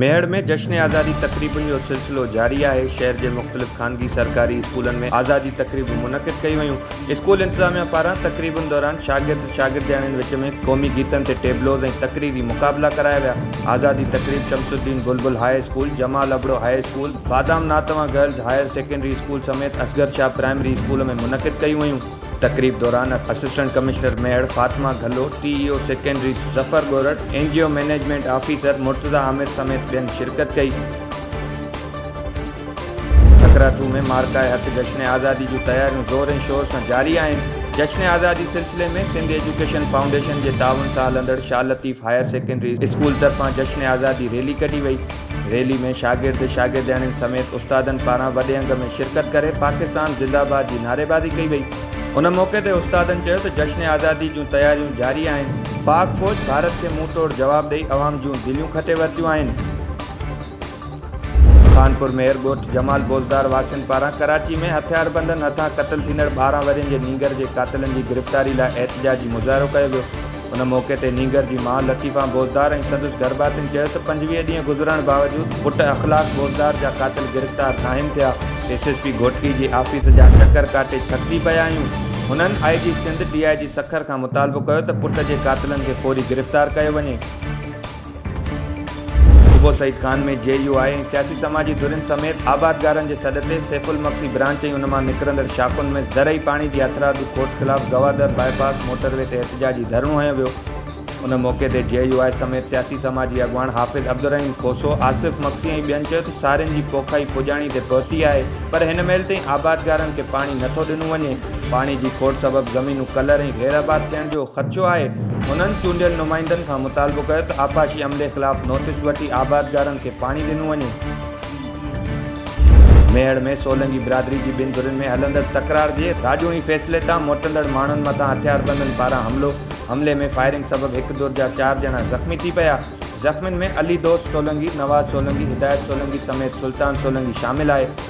ميهڙ ۾ جشن آزادي تقريبن جو سلسلو جاري آهي شهر جي مختلف خانگي سرڪاري اسڪولن ۾ آزادي تقريبون منعقد ڪيون ويون اسڪول انتظاميا پاران تقريبن دوران شاگرد شاگردياڻين وچ ۾ قومي گيتن تي ٽيبلوز ۽ تقريري مقابلا ڪرايا ويا آزادي تقريب Shamsuddin Bulbul high school Jamal Abro high school Badam Natwa girls higher secondary school سميت اصغر شاهه پرائمري اسڪول ۾ منعقد ڪيون ويون. تقريب دوران assistant commissioner Mehar Fatima Ghallu, T E O secondary Zafar Gorar, N G O management officer Murtaza Amir سميت ٻين شرڪت ڪئي. سڪراتو ۾ مارڪائي هٿ جشن آزادي جون تياريون زور ۽ شور سان جاري آهن. جشن آزادي سلسلي ۾ سنڌ ايجوڪيشن فائونڊيشن جي تعاون سان هلندڙ Shah Latif higher secondary school طرفان جشن آزادي ريلي ڪڍي وئي. ريلي ۾ شاگرد، شاگردياڻين سميت استادن پاران وڏي انگ ۾ شرڪت ڪري پاڪستان زنده باد جي نعريبازي ڪئي وئي. ان موقعي تي استادن چيو ته جشن آزادي جون تياريون جاري آهن، پاڪ فوج ڀارت کي منهن ٽوڙ جواب ڏئي عوام جون دليون کٽي ورتيون آهن. خانپور مير ڳوٺ جمال بوزدار واسين پاران ڪراچي ۾ هٿياربندن هٿان قتل ٿيندڙ ٻارهن ورهين جي نينگر جي قاتلن جي گرفتاري لاء احتجاجي مظاهرو ڪيو ويو. ان موقعي تي نينگر جي ماء لطيفه بوزدار ۽ سندس گهرڀاتين چيو ته پنجويهه ڏينهن گذرڻ باوجود پٽ اخلاق بوزدار جا قاتل گرفتار ناهن ٿيا، ايس ايس پي گهوٽڪي جي آفيس جا چڪر ڪاٽي ٿڪجي پيا آهيون، هنن آء جي سنڌ ڊي آء جي سکر کان مطالبو ڪيو ته پٽ جي قاتلن کي فوري گرفتار ڪيو وڃي. صوبو سعيد خان ۾ جي يو آء ۽ سياسي سماجي ڌرين سميت آبادگارن جي سڏ تي سيف المخفي برانچ ۽ ان مان نڪرندڙ شاخن ۾ زرعي پاڻي جي هٿرادو کوٽ خلاف Gwadar bypass motorway تي احتجاجي ڌرڻو هنيو ويو ان موقعي تي جي يو آء سميت سياسي سماجي اڳواڻ حافظ عبدالرحيم کوسو، آصف مگسي ۽ ٻين چيو ته سارين جي پوکائي پڄاڻي تي پهتي آهي پر هن مهل تائين آبادگارن کي پاڻي نٿو ڏنو وڃي. پاڻي جي کوٽ سبب زمينون ڪلر ۽ غير آباد ٿيڻ جو خدشو آهي، هنن چونڊيل نمائندن کان مطالبو ڪيو ته آبپاشي عملي خلاف نوٽيس وٺي آبادگارن کي پاڻي ڏنو وڃي. ميهڙ ۾ سولنگي برادري جي ٻن ڌرين ۾ هلندڙ تڪرار جي راڄوڻي فيصلي تان موٽندڙ ماڻهن مٿان هٿياربندن پاران حملو، حملي ۾ فائرنگ سبب هڪ ڌر جا چار ڄڻا زخمي ٿي پيا، زخمين ۾ علي دوست سولنگي، نواز سولنگي، هدايت سولنگي سميت سلطان سولنگي شامل آهي.